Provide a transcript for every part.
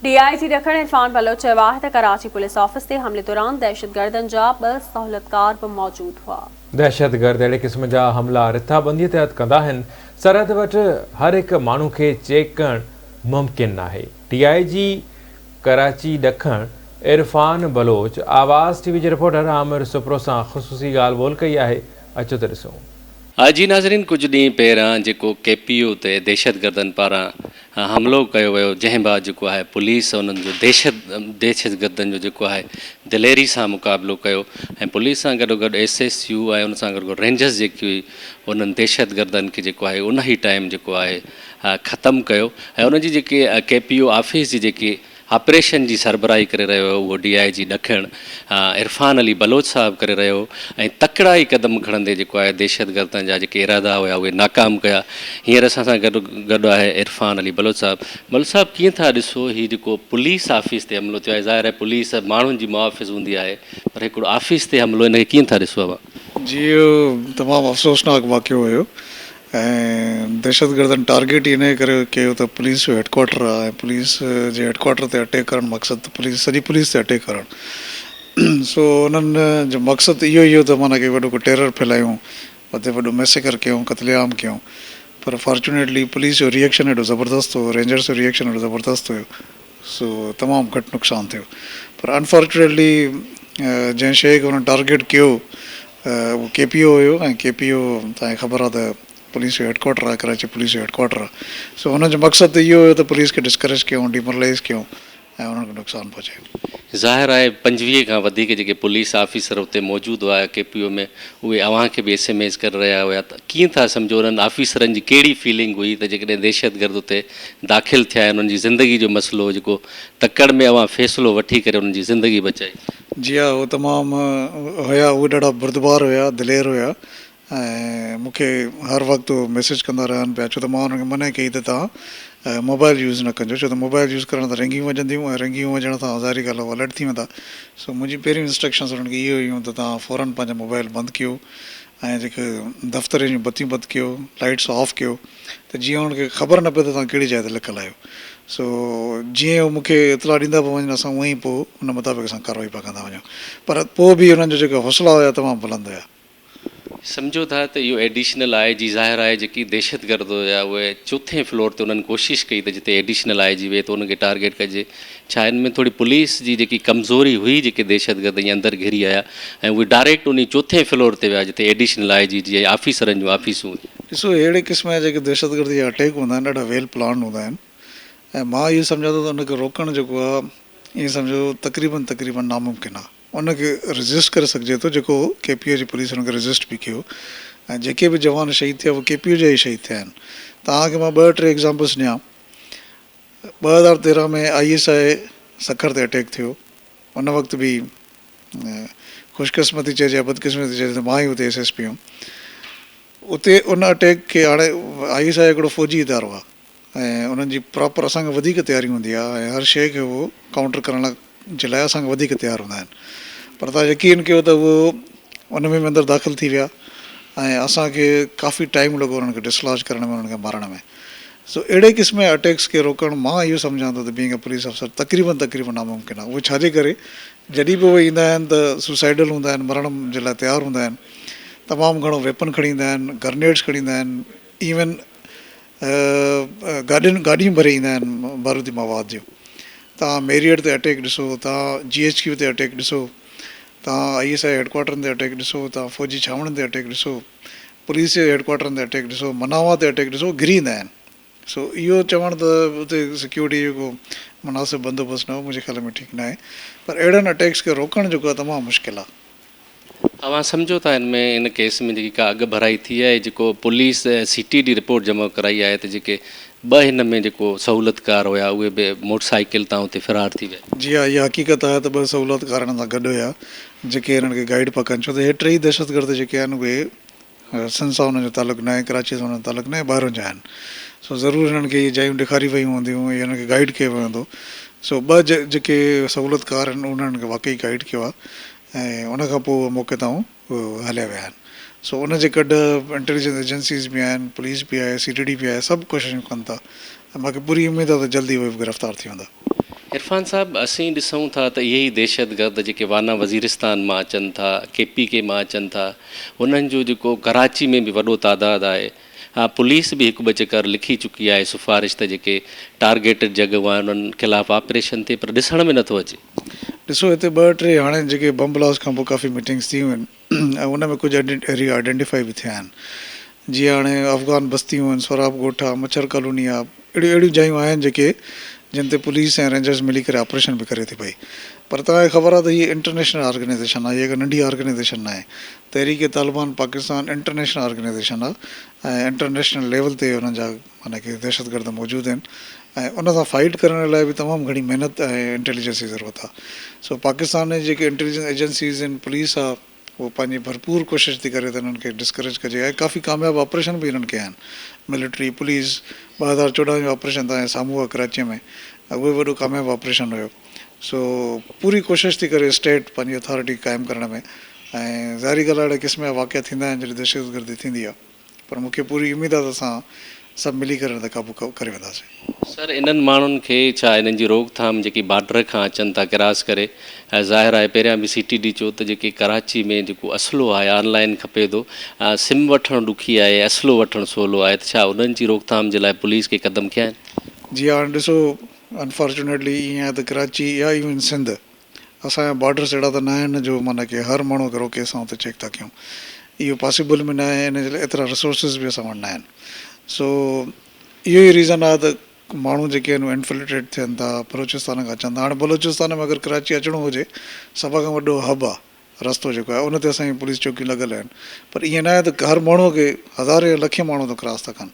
D I G ڏکڻ عرفان بلوچ چيو آهي ته ڪراچي پوليس آفيس تي حملي دوران دهشتگردن جا ٻه سهولتڪار به موجود هئا. دهشتگرد اهڙي قسم جا حملا رٿابنديء تحت ڪندا آهن، سرحد وٽ هر هڪ ماڻهو کي چيڪ ڪرڻ ممڪن ناهي، ڊي آء جي ڪراچي ڏکڻ عرفان بلوچ آواز ٽي وي جي رپورٽر عامر سپرو سان خصوصي ڳالهه ٻولهه ڪئي آهي، اچو ته ڏسون. آء جي ناظرين ڪجهه ڏينهن پهريان جيڪو ڪي پي يو تي دهشتگردن پاران حملو ڪيو ويو جنهن بعد جيڪو آهي پوليس انهن جو دهشت دهشتگردن جو جيڪو آهي دليري سان مقابلو ڪيو ۽ پوليس سان گڏو گڏ ايس ايس يو ۽ ان سان گڏو گڏ رينجرز جيڪي هئي انهن دهشتگردن کي جيڪو آهي انهي ٽائيم جيڪو آهي ختم ڪيو ۽ ان جي جيڪي ڪي پي او آفيس جي جيڪي آپريشن جي سربراهي ڪري رهيو هو اهو ڊي آء جي ڏکڻ عرفان علي بلوچ صاحب ڪري رهيو هو ۽ تڪڙا ئي قدم کڻندي جيڪو آهي دهشتگردن جا جيڪي ارادا هيا اهي ناڪام ڪيا هينئر اسان سان گڏ گڏ آهي عرفان علي بلوچ صاحب بلوچ صاحب ڪيئن ٿا ڏسو هي جيڪو پوليس آفيس تي حملو ٿيو آهي ظاهر آهي پوليس ماڻهن جي محافظ هوندي آهي پر هڪڙو آفيس تي حملو ان کي ڪيئن ٿا ڏسو اوهان. جي اهو تمام افسوسناڪ واقعو هيو ۽ دهشتگردن ٽارگيٽ ئي انهيء ڪري ڪيو ته پوليس جو هيڊڪوارٽر آهي ۽ پوليس جي هيڊڪوارٽر تي اٽيڪ ڪرڻ مقصد ته پوليس سڄي پوليس تي اٽيڪ ڪرڻ سو انهن جو مقصد اهو ئي هو ته معنيٰ ڪي وڏو ڪو ٽيرر ڦهلايون اتي وڏو ميسيڪر ڪيون قتل عام ڪيون پر فارچونيٽلي پوليس جو ريئڪشن ايڏو زبردست هو رينجرز جو ريئڪشن ايڏو زبردست هيو سو تمام گهٽ نقصان ٿيو پر انفارچونيٽلي جنهن شيء کي انهن ٽارگيٽ ڪيو اهو ڪي پي او هيو ۽ ڪي پي او توهان کي خبر آهي ته پوليس جو هيڊڪوارٽر آهي ڪراچي پوليس جو هيڊڪوارٽر آهي سو انهن جو مقصد ته اهو هيو ته پوليس کي ڊسڪريج ڪيون ڊي مورلائيز ڪيون ۽ انهن کي نقصان پهچايون. ظاهر آهي پنجويهه کان وڌيڪ جيڪي پوليس آفيسر اتي موجود هئا ڪي پي او ۾ اهي اوهان کي به ايس ايم ايز ڪري رهيا هيا ته ڪيئن ٿا سمجهو انهن آفيسرن جي ڪهڙي فيلنگ هئي ته جيڪڏهن دهشتگرد اتي داخل ٿيا ۽ انهن جي زندگي جو مسئلو هو جيڪو تڪڙ ۾ اوهان فيصلو وٺي ڪري انهن جي زندگي بچائي. جي ها هو تمام هيا اهي ڏاڍا بردبار هيا دلير هيا ۽ مون کي هر وقت اهي ميسيج ڪندا رهن پيا ڇو ته مان انهن کي منع ڪئي ته توهان موبائل يوز نه ڪنجو ڇو ته موبائل يوز ڪرڻ سان رنگيون وڄنديون ۽ رنگيون وڄڻ سان ظاهري ڳالهه هو الرٽ ٿي ويندا سو منهنجي پهريون انسٽرڪشنس انهن کي اهي هيون ته توهان فورن پنهنجا موبائل بند ڪيو ۽ جيڪي دفترين جون بتيون بند ڪيو لائيٽس آف ڪيو ته جيئن انهن کي خبر نه پئي ته توهان ڪهڙي جاء تي لڪل آهيو. سو جيئن هو مون کي اطلاع ڏيندا پيا وڃن اسان اونئين پوء ان مطابق اسان ڪارروائي پيا ڪندا وڃون. پر پوء به انهن جا جيڪا حوصلا هيا تمام بلند هيا. سمجهو ٿا ته اهو ايڊيشنل آء جي ظاهر آهي جيڪي دهشتگرد هيا اهي چوٿين فلور تي انهن ڪوشش ڪئي ته جتي ايڊيشنل آء جي ويهي ته ان کي ٽارگيٽ ڪجي. ڇا ان ۾ ٿوري پوليس جي جيڪي ڪمزوري هئي جيڪي دهشتگرد ائين اندر گهري آيا ۽ اهي ڊائريڪٽ انهي چوٿين فلور تي ويا جتي ايڊيشنل آء جي جي ۽ آفيسرن جون آفيسون هيون. ڏسو اهڙي قسم جا جيڪي دهشتگردي جا اٽيڪ هوندا آهن ڏاڍا ويل پلانڊ هوندا آهن ۽ مان اهو سمجهان ٿو ته ان کي روڪڻ جيڪو آهي ائين سمجهو تقريبن تقريبن ناممڪن آهي. ان کي ريزسٽ ڪري سگهجي ٿو جيڪو ڪي پي او جي پوليس ان کي ريزسٽ به ڪيو ۽ جيڪي به جوان شهيد ٿيا اهي ڪي پي او جا ئي شهيد ٿيا آهن. توهان کي مان ٻه ٽي ايگزامپلس ڏيان ٻه هزار تيرهن ۾ آء ايس آء سکر تي اٽيڪ ٿيو ان وقت به خوش قسمتي چئجي يا بدقسمتي چئجي ته مان ئي اتي ايس ايس پي هيم اتي ان اٽيڪ کي هاڻي آء ايس آء هڪڙو فوجي ادارو آهي ۽ انهن جي پراپر اسان کان وڌيڪ تياري هوندي آهي ۽ هر شيء کي هو ڪائونٽر ڪرڻ لاء جي لاء اسان کان وڌيڪ تيار هوندا آهن پر تان يقين ڪيو ته هو ان ۾ به اندر داخل ٿي ويا ۽ اسان کي ڪافي ٽائيم لڳو انهن کي ڊسلاج ڪرڻ ۾ انهن کي مارڻ ۾ سو اهڙي قسم جي اٽيڪس کي روڪڻ مان اهو سمجهان ٿو ته بينگ اي پوليس آفيسر تقريبن تقريبن ناممڪن آهي اهو ڇاجي ڪري جڏهن به اهي ايندا آهن ته سوسائيڊل هوندا آهن مرڻ جي لاء تيار هوندا آهن تمام گهڻو ويپن کڻي ايندا آهن گرنيڊز کڻي ايندا آهن ايون گاڏين گاڏيون ڀري ايندا آهن بارودي مواد جون توهان ميريئٽ تي اٽيڪ ڏسو توهان جي ايڇ ڪيو تي اٽيڪ ڏسو توهان آئي ايس آئي هيڊڪوارٽرن تي اٽيڪ ڏسو توهان فوجي ڇانوڻين تي اٽيڪ ڏسو پوليس جي هيڊڪوارٽرن تي اٽيڪ ڏسو مناوا تي اٽيڪ ڏسو گھري ايندا آهن سو اهو چوڻ ته اتي سيڪيورٽي جو ڪو مناسب بندوبست نه هو منهنجي خيال ۾ ٺيڪ ناهي پر اهڙن اٽيڪس کي روڪڻ جيڪو آهي تمام مشڪل آهي اوهان سمجهو ٿا ان ۾ ان ڪيس ۾ جيڪي ڪا اڳڀرائي ٿي آهي جيڪو police ۽ C T D report جمع ڪرائي آهي ته جيڪي ٻه هن ۾ جيڪو سهولتڪار هيا اهي به موٽر سائيڪل تان اتي فرار ٿي ويا. جي ها اها حقيقت آهي ته ٻه سهولتڪار هنن سان گڏ هيا جيڪي هنن کي گائيڊ پيا ڪن ڇو ته هي ٽيئي دهشتگرد جيڪي آهن اهي سنڌ سان انهن جو تعلق ناهي، ڪراچيء سان انهن جو تعلق ناهي، ٻاهران جا آهن. سو ضرور هنن کي اهي جايون ڏيکاريون ويون هونديون يا هنن کي گائيڊ ڪيو ويو هوندو. سو ٻه جيڪي سهولتڪار آهن انهن هنن کي واقعي گائيڊ ڪيو آهي ۽ ان کان پوء اهي موقعي تائون هليا ويا آهن. سو ان جي ڪڍ انٽيليجنس ايجنسيز به آهن، پوليس به آهي، سي ٽي ڊي به آهي، سڀ ڪوششون ڪن ٿا ۽ مون کي پوري اميد آهي ته جلدي اهي به گرفتار ٿي ويندا. عرفان صاحب اسين ڏسون ٿا ته اهي ئي دهشتگرد جيڪي وانا وزيرستان مان اچن ٿا ڪي پي ڪي مان اچن ٿا انهن جو جيڪو ڪراچي ۾ به وڏو تعداد آهي ها پوليس به هڪ ٻه چڪر لکي چڪي آهي سفارش ته جيڪي ٽارگيٽڊ جڳهيون آهن انهن خلاف آپريشن ٿئي پر ڏسڻ ۾ نٿو اچي. ڏسو هتي ٻه ٽي هاڻي جيڪي بم بلاسٽ کان پوء ڪافي ميٽنگس ٿيون آهن ۽ ان ۾ ڪجهه ايريا آئيڊينٽيفائي به ٿيا آهن جيئن هاڻي افغان بستيون آهن، سهراب ڳوٺ آهي، مڇر ڪالوني آهي، اهڙيون اهڙيون جايون آهن جيڪي جن تي پوليس ۽ رينجرز ملي ڪري آپريشن به ڪري ٿي پئي پر توهان کي خبر آهي ته هيء انٽرنيشنل آرگنائيزيشن آهي هيء ڪا ننڍي آرگنائيزيشن ناهي تحريڪ طالبان پاڪستان انٽرنيشنل آرگنائيزيشن آهي ۽ انٽرنيشنل ليول تي انهن جا معنيٰ ڪي دهشتگرد موجود آهن ۽ ان سان فائيٽ ڪرڻ لاء به تمام گهڻي محنت ۽ انٽيليجنس جي ضرورت آهي سو پاڪستان جي جيڪي انٽيليجنس ايجنسيز آهن پوليس آهي اهو پنهنجي ڀرپور ڪوشش ٿي ڪري ته انهن کي ڊسڪريج ڪجي ۽ ڪافي ڪامياب آپريشن به انهن ڪيا آهن ملٽري پوليس ٻه هزار چوڏهن جو آپريشن توهان جي سامهون آهي ڪراچيء ۾ اهو به وڏو ڪامياب آپريشن هيو سو پوري ڪوشش ٿي ڪري اسٽيٽ پنهنجي اٿارٽي قائم ڪرڻ ۾ ۽ ظاهري ڳالهه آهي اهڙي قسم جا واقعا ٿيندا آهن جڏهن دهشتگردي ٿيندي آهي پر مون کي پوري اميد آ ته اسان سڀ ملي ڪري ان تي قابو ڪري وينداسين. سر انهن ماڻهن کي ڇا انهن جي روڪ ٿام جيڪي بارڊر کان اچن ٿا ڪراس ڪري ۽ ظاهر آهي پهريان به سي ٽي ڊي چيو ته جيڪي ڪراچي ۾ جيڪو اسلحو آهي آن لائين کپي ٿو سم وٺڻ ڏکي آهي اسلحو وٺڻ سولو آهي ته ڇا انهن جي روڪ ٿام جي لاء پوليس ڪي قدم کنيا آهن. جي هاڻ ڏسو انفارچونيٽلي ائين آهي ته ڪراچي يا ايون سنڌ اسان جا بارڊرز اهڙا ته ناهن جو معنيٰ ڪي هر ماڻهو کي روڪي اسان اتي چيڪ ٿا ڪيون اهو پاسيبل به ناهي ان جي لاء ايترا رسورسز به اسان وٽ ناهن سو اهو ئي ريزن آهي ته ماڻهو جيڪي آهن اهي انفلٽريٽ ٿين ٿا بلوچستان کان اچن ٿا هاڻي بلوچستان ۾ اگر ڪراچي اچڻو هجي سڀ کان وڏو هب آهي رستو جيڪو آهي ان تي اسان جون پوليس چوڪيون لڳل آهن پر ائين ناهي ته هر ماڻهو کي هزارين يا لکين ماڻهو ته ڪراس ٿا ڪن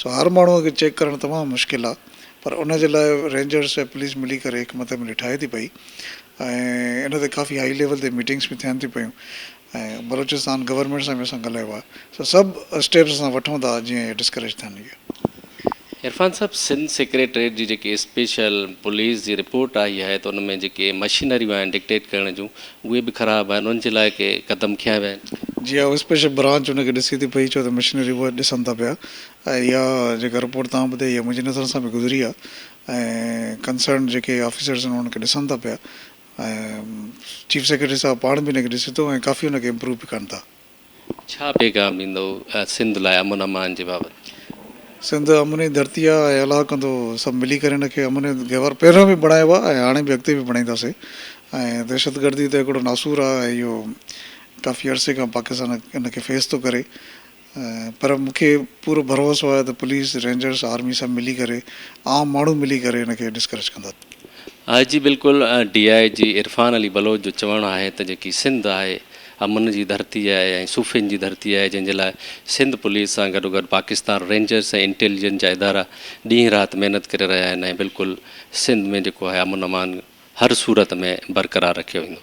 سو هر ماڻهو کي چيڪ ڪرڻ تمام مشڪل آهي پر ان جي لاء رينجرز ۽ پوليس ملي ڪري هڪ مٿي ملي ٺاهي ٿي پئي ۽ ان تي ڪافي هائي ليول تي ميٽنگس به ٿين ٿيون پيون ۽ بلوچستان گورنمينٽ سان به اسان ڳالهايو آهي سو سڀ اسٽيپس اسان وٺون ٿا جيئن هي ڊسڪريج ٿين اهي. عرفان صاحب سنڌ سيڪريٽريٽ جي جيڪي اسپيشل پوليس جي رپورٽ آئي آهي ته ان ۾ جيڪي مشينريون آهن ڊڪٽيٽ ڪرڻ جون اهي به خراب آهن انهن جي لاء ڪي قدم کنيا ويا آهن؟ جي ها اسپيشل برانچ ان کي ڏسي ٿي پئي ڇو ته مشينري اهي ڏسن ٿا پيا ۽ اها جيڪا رپورٽ توهان ٻڌائي اها منهنجي نظرن سان به گذري آهي ۽ ڪنسرنڊ جيڪي آفيسرز آهن انهن کي ڏسن ٿا پيا ۽ چيف سيڪريٽري صاحب پاڻ به ان کي ڏسي ٿو ۽ ڪافي ان کي امپروو به ڪن ٿا. ڇا پيغام ڏيندؤ سنڌ لاء امن امان جي بابت؟ سنڌ امن جي ڌرتي آ ۽ الله ڪندو سڀ ملي ڪري ان کي امن جي گهور پهريون به بڻايو آ ۽ هاڻي به اڳتي به بڻائينداسين ۽ دهشتگردي ته هڪڙو ناسور آ ۽ اهو ڪافي عرصي کان پاڪستان ان کي فيس ٿو ڪري پر مون کي پورو ڀروسو آهي ته پوليس، رينجرز، آرمي سڀ ملي ڪري عام ماڻهو ملي ڪري ان کي ڊسڪريج ڪندا. آء جي بلڪل ڊي آء جي عرفان علي بلوچ جو چوڻ آهي ته جيڪي سنڌ آهي امن جي ڌرتي آهي ۽ صوفين جي ڌرتي آهي جنهن جي لاء سنڌ پوليس سان گڏوگڏ پاڪستان رينجرز ۽ انٽيليجنس جا ادارا ڏينهن رات محنت ڪري رهيا آهن ۽ بلڪل سنڌ ۾ جيڪو آهي امن امان هر صورت ۾ برقرار رکيو ويندو.